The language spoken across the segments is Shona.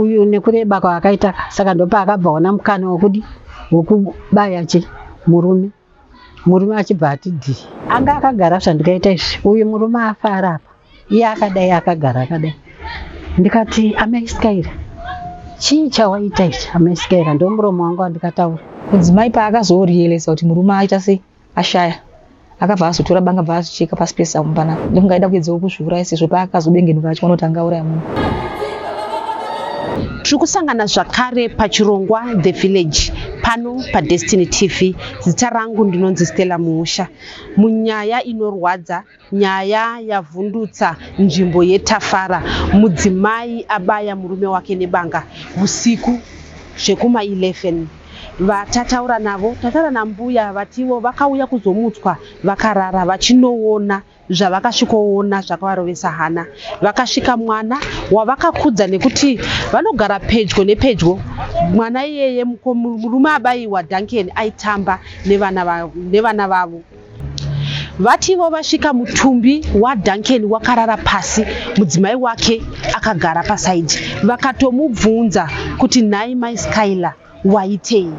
uyu nekureba kwaakaita saka ndopaakabva ona mukana wokudi wokubaya chi murume murume achibva ati dhi anga akagara zvandikaita izvi uyu murume afara apa iye akadai akagara akadai ndikati amaisikaira chii chawaita ichi amaisikaira ndomuromo wangu wandikataura mudzimai paakazorealisa kuti murume aita sei ashaya akabva azotora banga bva azicheka pasi pesa mupana ndokunga aida kuedzawo kuzviuraya sezvo paakazodengenuka achiona kuti angauraya munhu tiri kusangana zvakare pachirongwa the village pano padestiny tv zita rangu ndinonzi stella muusha munyaya inorwadza Nyaya yavhundutsa nzvimbo yeTafara, mudzimai abaya murume wake nebanga husiku zvekuma 11. Vatataura navo tataura nambuya vatiwo vakauya kuzomutswa vakarara vachinoona zvavakasvikoona zvakavarovesa hana. Vakasvika mwana wavakakudza nekuti vanogara pedyo nepedyo. Mwana iyeye murume abaiwa Duncan aitamba nevana vavo. Vatiwo vasvika mutumbi waDuncan wakarara pasi mudzimai wake akagara pasaidhi vakatomubvunza kuti nhai mai Skylar waitei?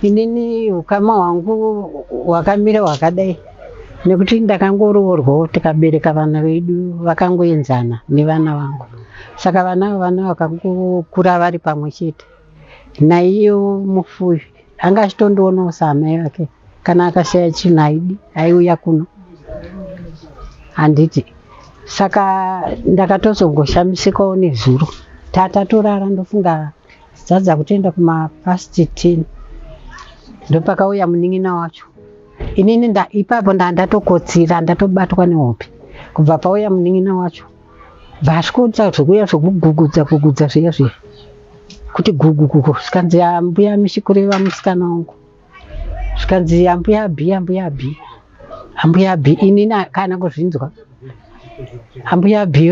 Inini ukama hwangu hwakamira hwakadai nekuti ndakangoroorwawo tikabereka vana vedu vakangoenzana nevana vangu saka vana vana vakangokura vari pamwe chete naiyo mufuyi anga achitondionawo saamai vake. kana akashaya chinhu haidi haiuya kuno handiti saka ndakatozongoshamisikawo nezuro tatatorara ndofunga dzadza kutoenda kumapast ten ndopakauya munin'ina wacho inini ipapo ndaa ndatokotsira ndatobatwa nehope kubva pauya munin'ina wacho bvaasvikoita zvekuya zvekugugudza gugudza zviya zviya kuti gugugugu zvikanzi mbuya mishi kureva musikana wangu zvikanzi ambuya bhi ambuya bhi ambuya bhi ini kana kuzvinzwa ambuya bhi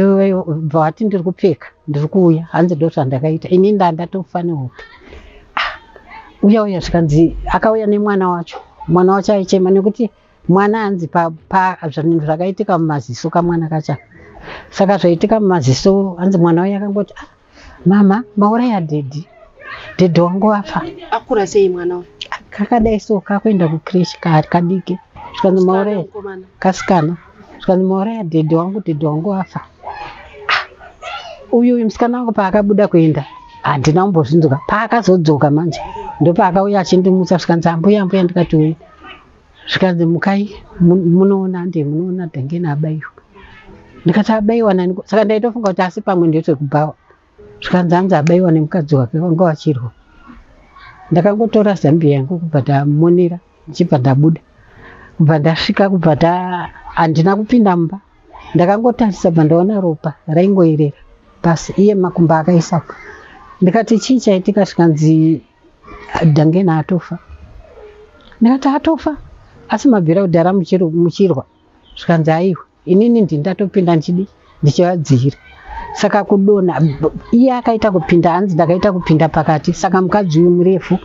bva wati ndiri kupfeka ndiri kuuya hanzi ndo zvandakaita ini ndandatofanirwa ah, uya uya zvikanzi akauya nemwana wacho mwana wacho aichema nekuti mwana hanzi pazvinhu zvakaitika mumaziso kamwana kacha saka zvaitika mumaziso hanzi mwana uya akangoti ah, mama mauraya dhedhi dhedhi wangu vafa akura sei mwana uyu kakadai so kakuenda kucresh kari kadiki zvikanzi mauraya mukomana kasikana zvikanzi mauraya dhedhi wangu dhedhi wangu vafa uyu uyu musikana wangu paakabuda kuenda handina kumbozvinzwa paakazodzoka manje ndopaakauya achindimutsa zvikanzi ambuya ambuya ndikati uyu zvikanzi mukai munoona ndiye munoona dhangeni abaiwa ndikati abaiwa nani saka ndaitofunga kuti asi pamwe ndetwekubhawa zvikanzi hanzi abaiwa nemukadzi wake vanga vachirwa ndakangotora zambia yangu kubva ndamonera ndichibva ndabuda kubva ndasvika kubva ta handina kupinda mumba ndakangotarisa bva ndaona ropa raingoerera pasi iye makumba akaisapo ndikati chii chaitika zvikanzi Dangena atofa. Ndikati atofa asi mabvira kudhara muchirwa zvikanzi aiwa inini ndi ndatopinda ndichidi ndichivadzihira saka kudona iye akaita kupinda hanzi ndakaita kupinda pakati saka mukadzi uyu murefu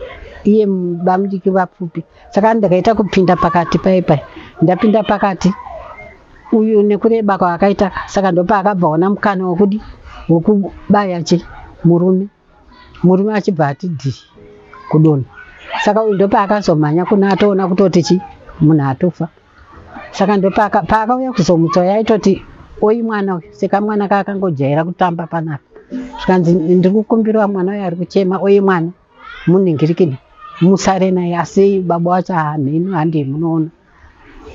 iye bamudiki vapfupi saka ndakaita kupinda pakati paye paye ndapinda pakati uyu nekureba kwaakaita saka ndopaakabva ona mukana wokudi wokubaya che murume murume achibva ati dhi kudonha saka uyu ndopaakazomhanya kuna atoona kutoti chi munhu atofa saka ndopaakauya kuzomutsa uyo aitoti oyi mwana uyu seka mwana kaakangojaira kutamba panapa zvikanzi ndiri kukumbirwa mwana uyo ari kuchema oyi mwana munhingirikini musare naye asi baba wacho hamheno handei munoona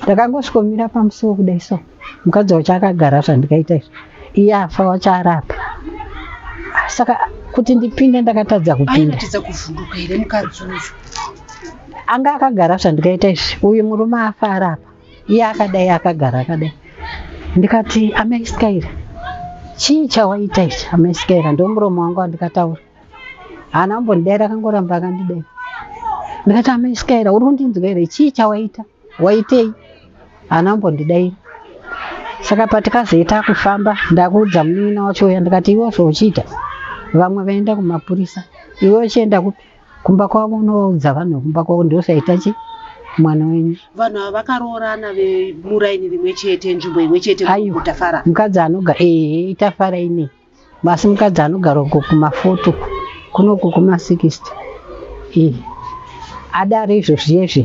ndakangosvikomira pamusiwo kudai so mukadzi wacho akagara zvandikaita izvi iye afa wacho arapa saka kuti ndipinde ndakatadza kupinda anga akagara zvandikaita izvi uyu murume afa arapa iye akadai akagara akadai ndikati amaiskaira chii chawaita ichi amaiskaira ndomuromo wangu wandikataura haana kumbondidaira akangoramba akandidaira ndikati amaisika here uri kundinzwa here chii chawaita waitei haana kumbondidaira saka patikazoita kufamba ndakuudza munin'ina wacho uya ndikati iwe zvauchiita vamwe vaenda kumapurisa iwe uchienda kupi kumba kwavo unovaudza vanhu vekumba kwavo ndiosaita chi mwana wenyu vanhu ava vakaroorana vemuraini rimwe chete nzvimbo imwe chete Aiwa. kutafara mukadzi anoga ehe itafara inei Basi mukadzi anogara uko kumafoto uko kuno uko kuma 60 ii adare izvo zviyezvi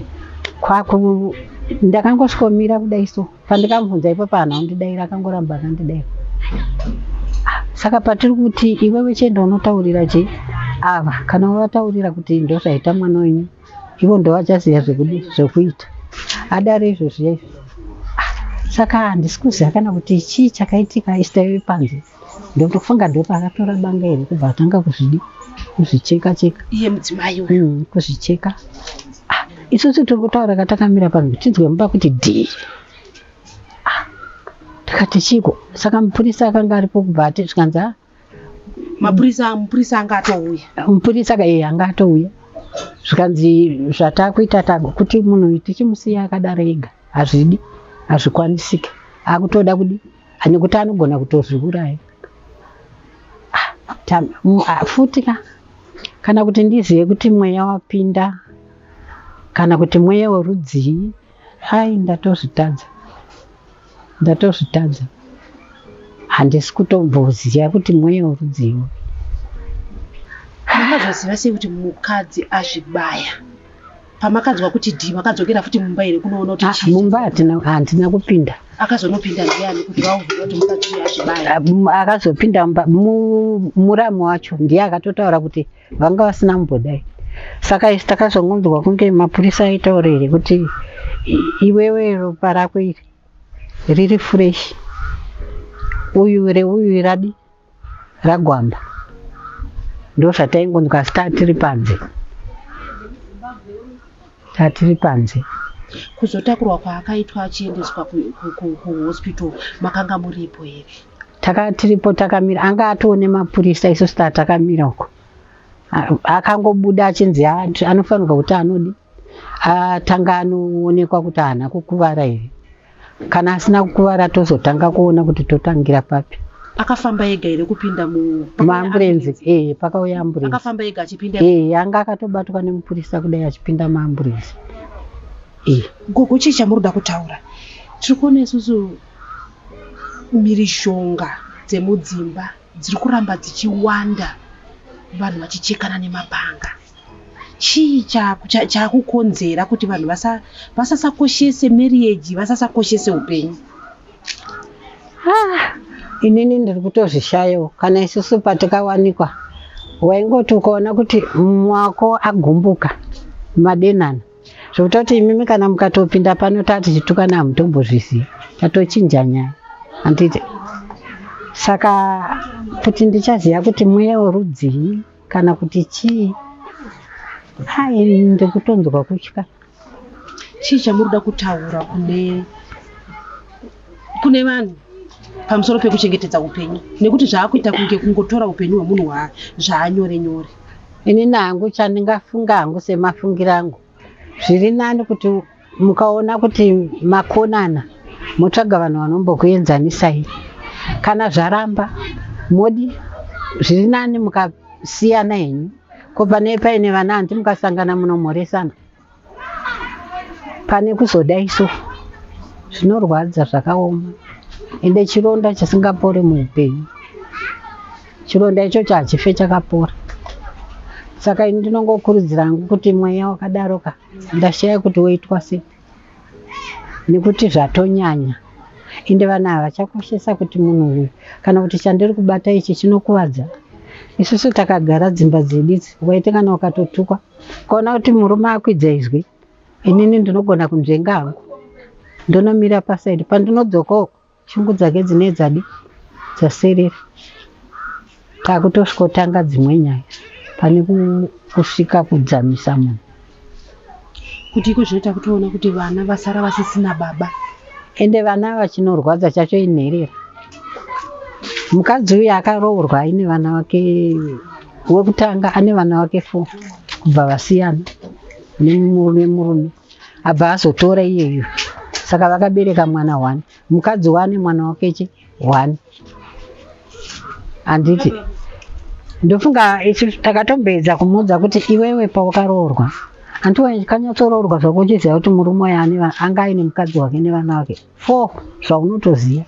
kwaku ndakangosvikomira kudai so pandikamubvunza ipo panhu andidaira akangoramba akandidaira Ah, saka patiri kuti iwewe chienda unotaurira je ava kana wavataurira kuti ndozvaita mwana wenyu ivo ndovachaziva zvekudi zvekuita adare izvo zviya izvo saka handisi kuziva kana kuti chii chakaitika istaive panze ndotofunga ndopa akatora banga here kubva atanga kuzvidi kuzvicheka cheka iye mudzimai uyu mm, kuzvicheka ah, isusu tiri kutaura katakamira panze tinzwe mumba kuti dhii ah, tikati chiko saka mupurisa akanga aripo kubva ati zvikanzi ah, mapurisa mupurisa anga atouya mupurisa kaye anga atouya zvikanzi zvatakuita tago kuti munhu tichimusiya akadaro ega hazvidi hazvikwanisike akutoda kudi ane kuti anogona kutozviuraya ah, ah, futi ka kana kuti ndizive kuti mweya wapinda kana kuti mweya werudzii Hai ndatozvitadza. Ndatozvitadza. Handisi kutomboziva kuti mweya urudzii. Makazoziva sei kuti mukadzi azvibaya? Pamakanzwa kuti dhii makadzokera futi mumba here kunoona kuti ah, chii? Mumba hatina handina kupinda. Akazonopinda ndiani kuti vauvira kuti mukadzi azvibaya? Ah, akazopinda muramu wacho ndiye akatotaura kuti vanga vasina mumbodai saka isi takazongonzwa kunge mapurisa aitaura here kuti iwewe ropa rako iri riri fresh uyu reuyu radi ragwamba ndozvataingonzwa asi tatiri panze tatiri panze kuzotakurwa kwaakaitwa achiendeswa kuhospital makanga muripo here taka tiripo takamira anga atoo nemapurisa isu star takamira uko akangobuda achinzi anofanirwa kuti anodi atanga anoonekwa kuti haana kukuvara here kana asina kukuvara tozotanga kuona kuti totangira papi akafamba ega here kupinda muamburenzi ee eh, pakauya amburenzi akafamba ega achipinda ee eh, anga akatobatwa nemupurisa kudai achipinda muamburenzi ee eh. gogo chii chamuri kuda kutaura tiri kuona isusu Mhirizhonga dzemudzimba dziri kuramba dzichiwanda vanhu vachichekana nemapanga. Chii chakukonzera kuti vanhu vasasakoshese marriage, vasasakoshese upenyu? Ah, inini ndiri kutozvishayawo kana isusu patikawanikwa waingoti ukaona kuti mumwe wako agumbuka madenana zvekutoti imimi kana mukatopinda pano tatichitukana hamutombozvizivi tatochinja nyaya handiti saka kuti ndichaziva kuti mweya werudzii kana kuti chii hai ndikutonzwa kutya chii chamuri kuda kutaura kune kune vanhu pamusoro pekuchengetedza upenyu nekuti zvaakuita kunge kungotora upenyu hwemunhu waa zvaanyore nyore ini nangu chandingafunga hangu semafungiro angu zviri nani kuti mukaona kuti makonana motsvaga vanhu vanombokuenzanisai kana zvaramba modi zviri nani mukasiyana henyu ko pane paine vana hanti mukasangana munomhoresana pane kuzoda isu zvinorwadza zvakaoma ende chironda chisingapore muupenyu chironda ichocho hachife chakapora saka ini ndinongokurudzira hangu kuti mweya wakadaroka ndashaya kuti woitwa se nekuti zvatonyanya ende vanhu ava chakoshesa kuti munhu uyu kana kuti chandiri kubata ichi chinokuvadza isusu takagara dzimba dzedu idzi waite kana ukatotukwa Ukaona kuti murume akwidza izwi, inini ndinogona kunzvenga hangu, ndonomira pasaidi. Pandinodzoka uko, shungu dzake dzinee dzadi dzaserera, takutosvikotanga dzimwe nyaya pane kusvika kudzamisa munhu. Kuti iko zvinoita kutoona kuti vana vasara vasisina baba. Ende vana vachinorwadza chacho inherera. Mukadzi uyu akaroorwa aine vana vake wekutanga ane vana vake four kubva vasiyana nemurume murume abva azotora iyeyo saka vakabereka mwana one mukadzi wane mwana wakeche one handiti ndofunga isu takatomboedza kumuudza kuti iwewe pawakaroorwa hanti kanyatsoroorwa zvakuchiziva kuti murume uyo anga aine mukadzi wake nevana vake four zvaunotoziva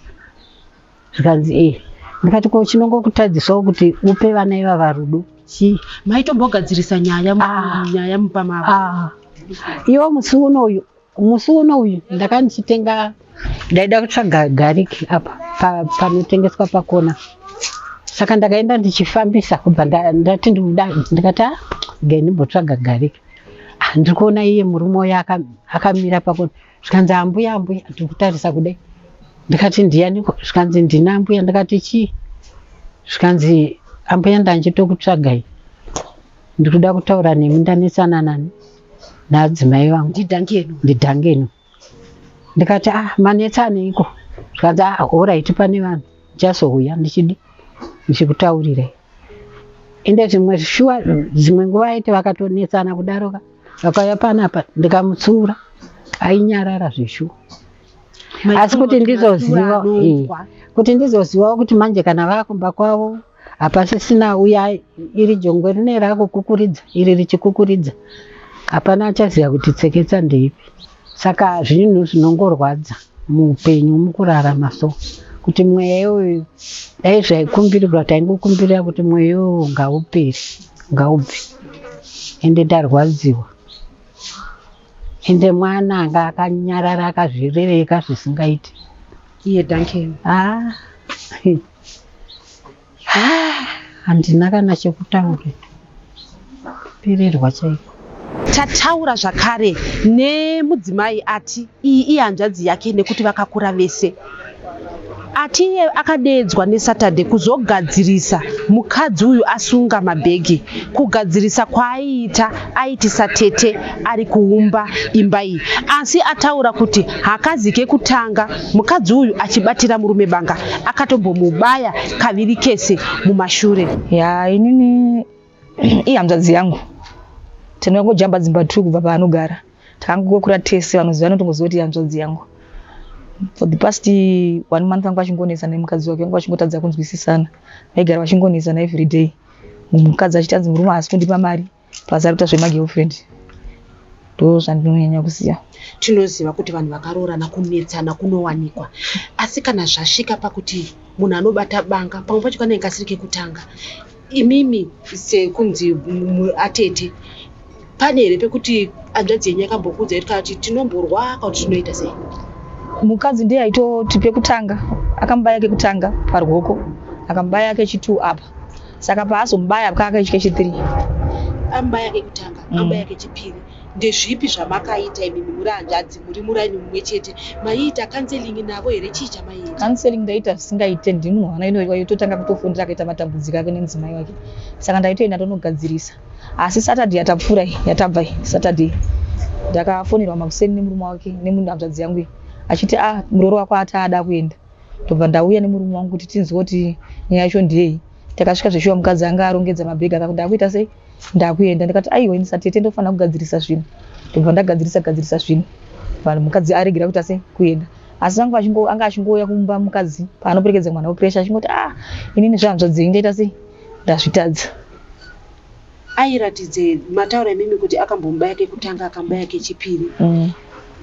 zvikanzi ee eh. ndikati ko chinongokutadzisawo kuti upe vana ivava rudo chii maitombogadzirisa nyaya ah. nyaya mupa mavo ah. iwo musi uno uyu musi uno uyu ndaka ndichitenga ndaida kutsvaga gariki apa panotengeswa pa pakona saka ndakaenda ndichifambisa kubva ndati ndikuda ndikati ah, ndimbotsvaga gariki ah, ndiri kuona iye murume uyo akamira pakona zvikanzi ambuya ambuya ndiri kutarisa kudai ndikati ndiyaniko zvikanzi ndina ambuya ndikati chii zvikanzi ambuya ndanjitokutsvagai ndiri kuda kutaura nemi ndanetsana nani naadzimai vangu ndidhangeno ndikati ah manetsaneiko zvikanzi ah horaiti pane vanhu ndichazouya ndichidi ndichikutaurirai ende zvimwe shuwa dzimwe nguva aiti vakatonetsana kudaroka vakauya panapa ndikamutsiura ainyarara zveshuwa asi kuti ndizoziva eh, kuti ndizozivawo kuti manje kana vakumba kwavo hapasisina uya iri jongwe rine rakukukuridza iri richikukuridza hapana achaziva kuti tseketsa ndeipi Saka zvinhu zvinongorwadza muupenyu mukurarama so kuti mweya iyoyo dai zvaikumbirirwa taingokumbirira kuti mweya iyoyo ngaupere ngaubve ende tarwadziwa ende mwana anga akanyarara akazvirereka zvisingaiti iye danken ah. Ah, handina kana chekutaura pererwa chaiko tataura zvakare nemudzimai ati iyi ihanzvadzi yake nekuti vakakura vese ati iye akadeedzwa nesaturday kuzogadzirisa mukadzi uyu asunga mabhegi kugadzirisa kwaaiita aitisa tete ari kuumba imba iyi asi ataura kuti hakazi kekutanga mukadzi uyu achibatira murume banga akatombomubaya kaviri kese mumashure ya inini ihanzvadzi yangu tinongojamba dzimba two kubva paanogara takangokura tese vanoziva notongoziva kuti ihanzvadzi yangu for the past one month vanga vachingonetsa nemukadzi wake vanga vachingotadza kunzwisisana vaigara vachingonetsana every day mukadzi achiti anzi murume haasi kundipa mari plus ari kuita zvemagirlfriend ndo zvandinonyanya kuziva tinoziva kuti vanhu vakaroorana kunetsana kunowanikwa asi kana zvasvika pakuti munhu anobata banga pamwe pacho kanenge kasiri kekutanga imimi sekunzi mu- atete pane here pekuti hanzvadzi yenyu yakambokuudza kuti kana kuti tinomborwa kana kuti tinoita sei mukadzi ndiye aitoti pekutanga akamubaya kekutanga paruoko akamubaya kechitwo apa saka paazomubaya akanga aitya chithree amubaya kekutanga mm. amubaya kechipiri ndezvipi zvamakaita imimi muri hanzvadzi muri muraini mumwe chete maiita counseling navo here chii chamaiita counseling ndaita zvisingaite ndini munhu wana inoiwa yototanga kutofundira akaita matambudziko ake nemudzimai wake saka ndaitoenda tonogadzirisa asi saturday yatapfuura yatabva saturday ndakafonerwa makuseni nemurume wake nemunhu hanzvadzi yangu achiti a ah, murooro wako ataada kuenda ndobva ndauya nemurume wangu kuti tinzwe kuti nyaya yacho ndiyei takasvika zveshuwa mukadzi anga arongedza mabhegi akakuti ndakuita sei ndakuenda ndikati aiwa ini satete ndofanira kugadzirisa zvinhu ndobva ndagadzirisa gadzirisa zvinhu vanhu mukadzi aregera kuita sei kuenda asi vangu anga achingouya kumba mukadzi paanoperekedza mwana wepresha achingoti ah inini zvehanzvadzei ndaita sei ndazvitadza airatidze mataura imimi kuti akambomba yake kutanga akamba yake chipiri mm.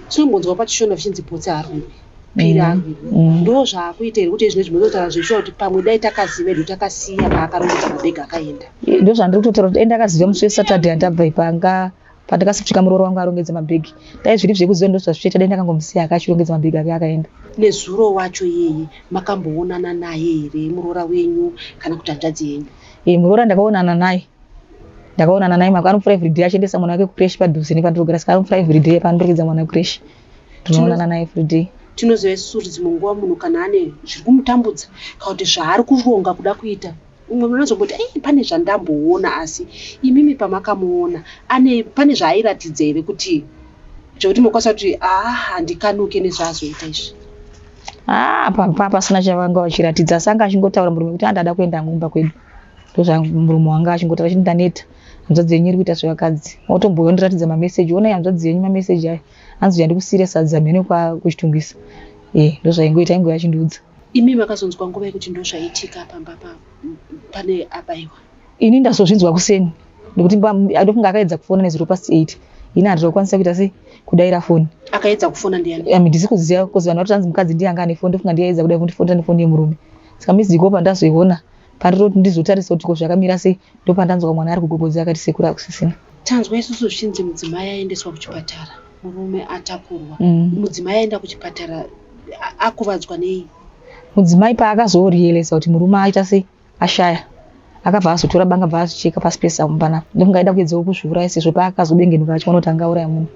tinombonzwa pachishona zvichinzi potsi harumbi pira mm, mm. ndo zvaakuita here kuti izvine zvinototaura zvekushua kuti pamwe dai takaziva edu takasiya paakarongedza mabhega akaenda ndo zvandiri kutotaura kuti endakaziva musi wesaturday andabva ipanga pandakasvika murooro wangu arongedza mabhegi dai zviri zvekuziva ndo zvazvichaita dai ndakangomusiya ake achirongedza mabhegi ake akaenda nezuro wacho yeye makamboonana naye here muroora wenyu kana kuti hanzvadzi yenyu e eh, muroora ndakaonana naye ndakaonana naye mako anomufura everyday achiendesa mwana wake kucresh padhuze nepandirogara saka anomufura everyday pandirogedza mwana wekucresh tinoonana naye every day tinoziva isusu kuti dzimwe nguva munhu kana ane zviri kumutambudza kana kuti zvaari kuronga kuda kuita umwe munhu anozomboti ei pane zvandamboona asi imimi pamakamuona ane pane zvaairatidza here kuti zvekuti mokwanisa kuti aa ah, handikanuke nezvaazoita izvi haa ah, papa pasina chavanga vachiratidza asi anga achingotaura murume kuti andada ah, kuenda ngumba kwedu ndozvamurume wanga achingotaura chiti ndaneta hanzvadzi yenyu iri kuita zvevakadzi otomboyondiratidza mameseji onai hanzvadzi yenyu mameseji ayo hanzi uya ndikusiire sadza mhene kwa kuchitungisa eh ndozvaingoita ingoya chindiudza imi makazonzwa nguva yekuti ndozvaitika pamba pa pane abaiwa ini ndazozvinzwa kuseni nekuti ndofunga akaedza kufona nezero past eight ini handira kukwanisa kuita sei kudaira foni akaedza kufona ndiani ami ndisi kuziva bcause vanhu vatoti hanzi mukadzi ndiye anga ane foni ndofunga ndiye aedza kuda kundifonera nefoni yemurume saka miziko pandazoiona Pandinoti ndizotarisa kuti ko zvakamira sei ndopandanzwa mwana ari kugogodza akati sekuru akusisina. Tanzwa isusu zvichinzi mudzimai aendeswa kuchipatara murume atakurwa. Mm. Mudzimai aenda kuchipatara akuvadzwa nei? Mudzimai paakazorealisa kuti murume aita sei ashaya akabva azotora banga bva azicheka pasi pesamu pana ndokunge aida kuedzawo kuzviuraya sezvo paakazodengenuka achiona kuti angauraya munhu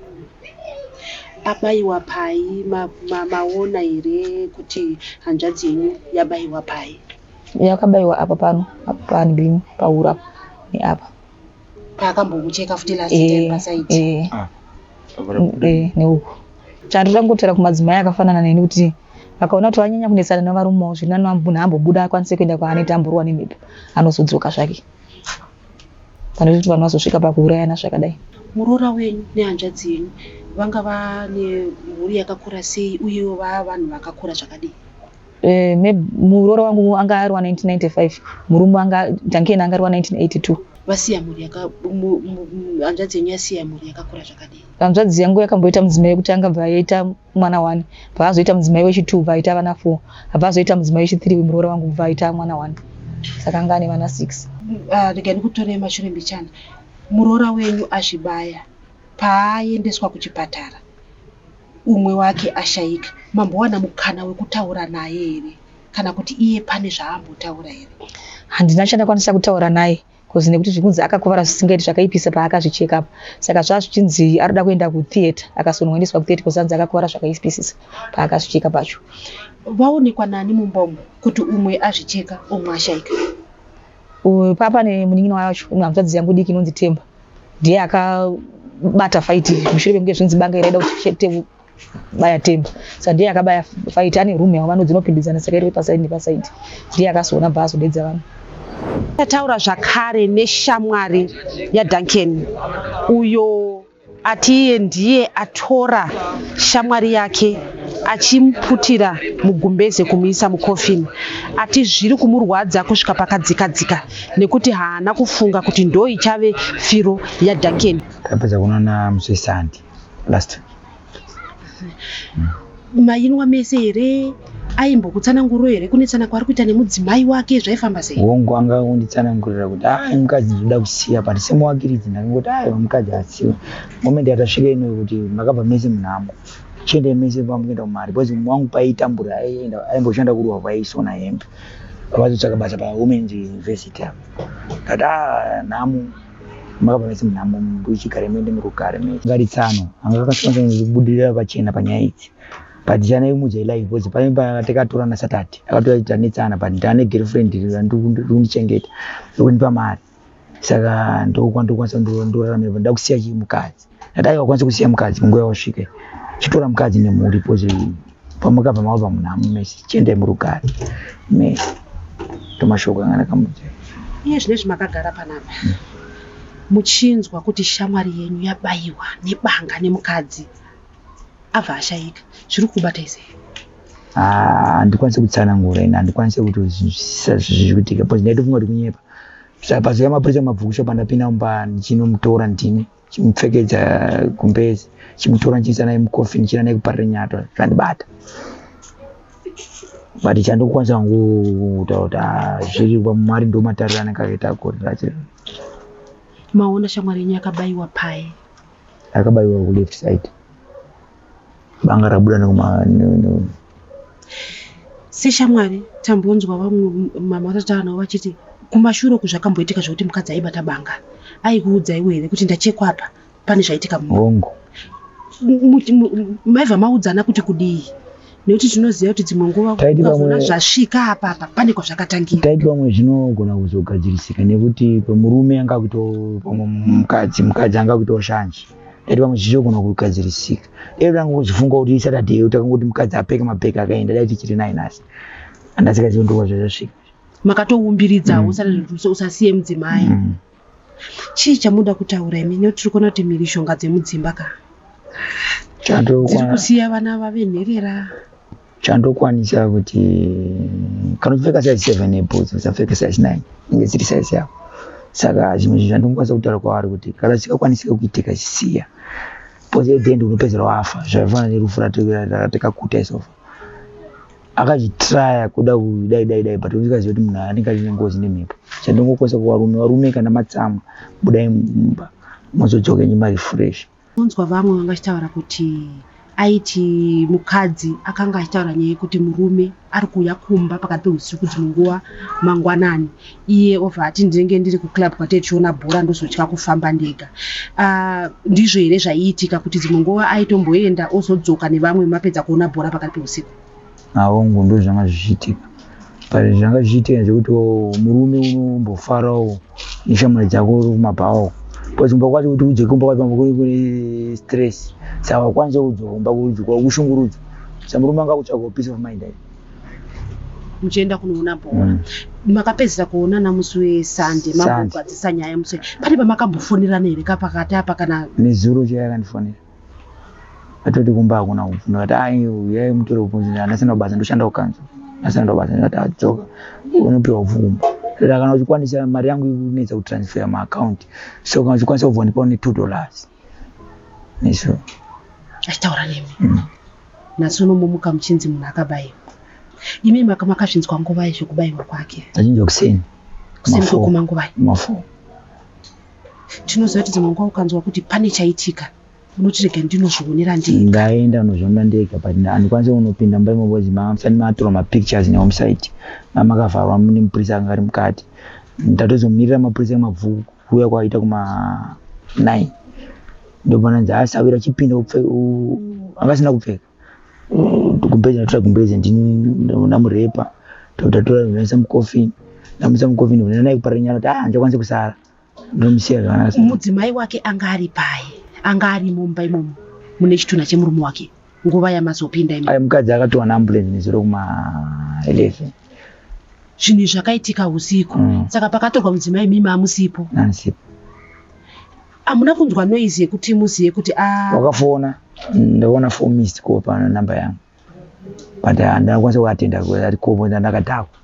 abaiwa pai maona ma, ma here kuti hanzvadzi yenyu yabaiwa pai yakabaiwa apa pano apa pano bim pahura neapa paakambokucheka futi last Eh, time pasaiti eh, Ah, eh, neuku chando tangotera kumadzimai akafanana neni kuti vakaona kuti vanyanya kunetsana nevarume wavo zviri nani munhu ambobuda akwanise kuenda kwaanoita amborwa nemhepo anozodzoka zvake pane kuti vanhu vazosvika pakuurayana zvakadai muroora wenyu nehanzvadzi yenyu vanga vane mhuri yakakura sei uyewo vaa vanhu vakakura zvakadii Eh, muroora wangu anga ari wa 1995 murume anga dankeni anga ari wa 1982 vasiya mhuri hanzvadzi yenyu yasiya mhuri yakakura zvakadii hanzvadzi yangu yakamboita mudzimai wekuti anga bva yaita mwana one bva azoita mudzimai wechitwo bva aita vana four abva azoita mudzimai wechithree wemuroora wangu bva aita mwana one saka anga ane vana six ah, rega ndikutore mashure mbichana muroora wenyu azvibaya paaendeswa kuchipatara umwe wake ashaika mambowana mukana wekutaura naye here kana kuti iye pane zvaambotaura here handina chandakwanisa kutaura naye bcause nekuti zvikunzi akakuvara zvisingaiti zvakaipisa paakazvicheka apa saka zvazvichinzi arikuda kuenda kutheatre akasonongandiswa kutheatre bcause anzi akakuvara zvakaipisisa paakazvicheka pacho vaonekwa nani mumba umu kuti umwe azvicheka umwe ashaika Uyu papa nemunin'ina wacho hanzvadzi yangu diki inonzi Temba ndiye akabata faiti mushure mekunge zvinzi banga iraida kuti baya Temba saka ndiye akabaya faiti ane room yavo vano dzinopindidzana saka iri pasaidi nepasaidi ndiye akazoona bva azodedza vanhu tataura zvakare neshamwari yaDuncan uyo Ati iye ndiye atora shamwari yake achimuputira mugumbeze kumuisa mukofini. Ati zviri kumurwadza kusvika pakadzikadzika nekuti haana kufunga kuti ndoo ichave firo yaDuncan. Tapedza kunoona musisandi last week. Mm. mayinwa mese here aimbokutsananguro here kunetsana kwaari kuita nemudzimai wake zvaifamba sei hongu anga unditsanangurira kuti ai mukadzi ndoda kusiya but semuwakiridzi ndakangoti aiwa mukadzi asiwa moment yatasvika inoyo kuti makabva mese munhamo chiendai mese pamukuenda kumari because mumwe wangu paitambura aienda aimboshanda kuruwa kwaisona hembe vazotsvaka basa pawomen's university apo ndati ah nhamo makabva mese munhamo muchigare muende muri kugare me ngari tsano anga kakasiyana nekubudirira pachena panyaya idzi but chana imudzai live because pane patakatorana satati akatoa kuti tanetsana but ndane girlfriend ndikundichengeta ndokundipa mari saka ndokwandokwanisa ndorarama ndakusiya chii mukadzi Dai wakwanisa kusiya mukadzi munguva yawasvika chitora mukadzi nemhuri pozi pamakabva mava pamunhu amumesi chiendai murugare me tomashoko anga ndakamudza iye zvine zvimakagara panapa muchinzwa kuti shamwari yenyu yabayiwa nebanga nemukadzi abva ashaika zviri kubata ise ah, handikwanise kutsanangura ini handikwanise kuti zviri kuitika pozi ndaitofunga kuti kunyepa saka pazoya mapurisa mabvukusho pandapinda mumba ndichinomutora ndini chimupfekedza gumbezi chimutora ndichiisa naye mucoffin china naye kuparira nyato zvandibata but chandokwanisa hangu kutaura kuti ah, zviri mwari ndo matariro anenge akaita gorira chero maona shamwari yenyu yakabayiwa paye akabayiwa kuleft side banga rabuda nekuma seshamwari tambonzwa vamwe mama vatataura navo vachiti kumashure uku zvakamboitika zvekuti mukadzi aibata banga aikuudza iwe here kuti ndachekwa apa pane zvaitika muongo maibva maudzana kuti kudii nekuti tinoziva kuti dzimwe nguva ukazona zvasvika apa apa pane kwazvakatangira taiti pamwe zvinogona kuzogadzirisika nekuti pamurume anga kuto pamwe mukadzi mukadzi anga kutoshanje Dati pamwe zvichogona kugadzirisika. Dai tanga kuzofunga kuti iSaturday iyo takangoti mukadzi apfeke mabhegi akaenda dai tichiri naye nhasi. Handasikazivi ndokwa zvazvasvika. Makatoumbiridzawo mm. usare zvekuti usasiye mudzimai. Mm. Chii chamuda kutaura imi nekuti tiri kuona kuti mhirishonga dzemudzimba ka. Tiri kusiya vana vave nherera. chandokwanisa kuti kana uchipfeka size seven neboots usapfeke size nine inge dziri size yako saka zvimwe zvinhu zvandingokwanisa kutaura kwavari kuti kana zvikakwanisika kuitika chisiya bcause at the end unopedzera wafa zvaifanana nerufu ratekakuta isofa akazvitraya kuda kudai dai dai but usikazivi kuti munhu anenge aine ngozi nemhepo chandingokwanisa kuvarume varume kana matsamwa budai mumba mozodzoka nyimari fresh Unzwa vamwe vanga vachitaura kuti aiti mukadzi akanga achitaura nyaya yekuti murume ari kuuya kumba pakati pehusiku dzimwe nguva mangwanani iye obva ati ndinenge ndiri kuclub kwatee tichiona bhora ndozotya kufamba ndega uh, ndizvo here zvaiitika kuti dzimwe nguva aitomboenda ozodzoka nevamwe mapedza kuona bhora pakati pehusiku Aongu ndo zvanga zvichiitika but zvanga zvichiitika zvekuti murume unombofarawo neshamwari dzako uri kumabhawo bcause kumba kwacho kuti udzoke kumba kwacho pamwe kune kune stress saka wakwanisa kudzoka kumba kudzokwa kushungurudzwa sa murume anga kutsvagawo peace of mind ayi muchienda kunoona bhora mm. makapedzisa kuonana musi wesunday mambogadzisa nyaya musi pane pamakambofonerana here kapakati apa kana nezuro chaiakandifonera atoti kumba hakuna upfu ndikati ai uyai mutore upfu handisina kubasa ndoshanda kukanzwa handisina ndobasa ndikati adzoka unopiwa upfu kumba toti kana uchikwanisa mari yangu inetsa kutransfer maacount so kana uchikwanisa kubva ndipawo ne two dollars neso achitaura nemi mm. nhasi unomomuka muchinzi munhu akabayiwa imi makazvinzwa nguvai zvekubayiwa kwake achinja kuseni kuseni kwekuma nguvai mafo tinoziva kuti dzimwe nguva ukanzwa kuti pane chaitika unoti rega ndinozvionera ndega ndaenda unozviona ndega but andikwanise kunopinda mumba imomo bcoz mamusati matora mapictures newomsite amakavharwa mune mupurisa anga ari mukati ndatozomirira mapurisa emabvuku kuuya kwaita kuma nine ndopananzi asawira chipinda upfe angasina kupfeka kumbezi ndatora kumbezi ndinamurepa tautatora ndinaisa mucoffin ndamuisa mucoffin ndinanai kupara nyara kuti ah ndichakwanisa kusara ndomusiya zvakanaka mudzimai wake anga ari paye anga ari mumba imomo mune chitunha chemurume wake nguva yamazopinda imi mukadzi akatowana ambulance nezuro kuma 11 zvinhu izvi zvakaitika usiku mm. saka pakatorwa mudzimai mimi amusipo ansipo Hamuna kunzwa noise yekuti muzive kuti a ah. wakafona ndaona four missed call pana number yangu but handina kwanisa kuatenda ati kobo ndandakadhakwa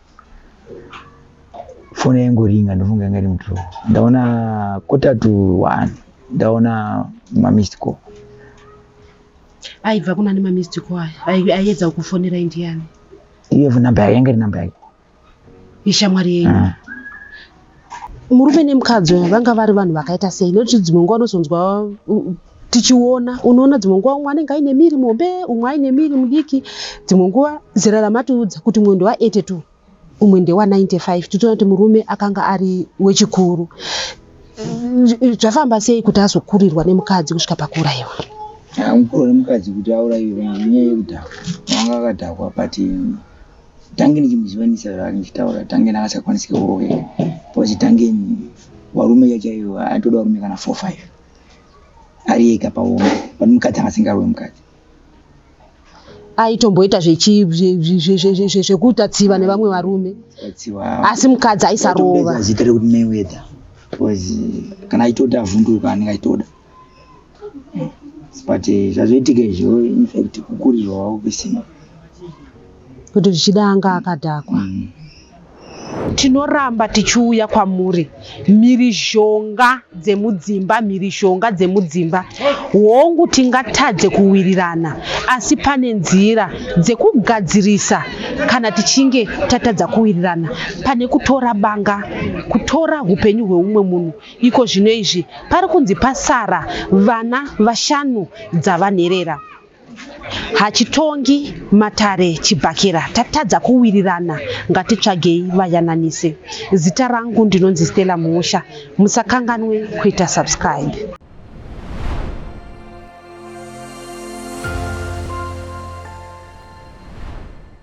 foni yaingoringa ndofunga yanga iri mudro ndaona quarter to one ndaona mamissed call aibva kuna nemamissed call aya aiedza kukufonera indiani iyevo number yake yanga iri number yake ishamwari yenyu mm. murume nemukadzi uya vanga vari vanhu vakaita sei nekuti dzimwe nguva unozonzwa tichiona unoona dzimwe nguva umwe anenge aine miri mombe umwe aine miri mudiki dzimwe nguva zera ramatiudza kuti umwe ndewa 82 umwe ndewa 95 titoona kuti murume akanga ari wechikuru zvafamba sei kuti azokurirwa nemukadzi kusvika pakuurayiwa mukuru nemukadzi kuti aurayiwe nyaya yekudhakwa anga akadhakwa pati tange ndichimuzivanisa zvaari ndichitaura tange ndakasakwanisika kurongeka bcause tange varume chaivo atoda varume kana four five ari ega paoma but mukadzi akasingarwe mukadzi aitomboita zvekuita tsiva nevamwe varume asi mukadzi aisarova zita rekuti mayweather bcause kana aitoda avhunduka anenge aitoda but eh, zvazoitika izvo infact kukurirwa wavo kusina kuti zvichida anga akadhakwa mm. tinoramba tichiuya kwamuri mhirizhonga dzemudzimba mhirizhonga dzemudzimba hongu tingatadze kuwirirana asi pane nzira dzekugadzirisa kana tichinge tatadza kuwirirana pane kutora banga kutora upenyu hweumwe munhu Iko zvino izvi pari kunzi pasara vana vashanu dzavanherera. Hachitongi matare chibhakera tatadza kuwirirana ngatitsvagei vayananise. Zita rangu ndinonzi Stella Muusha musakanganwe kuita subscribe.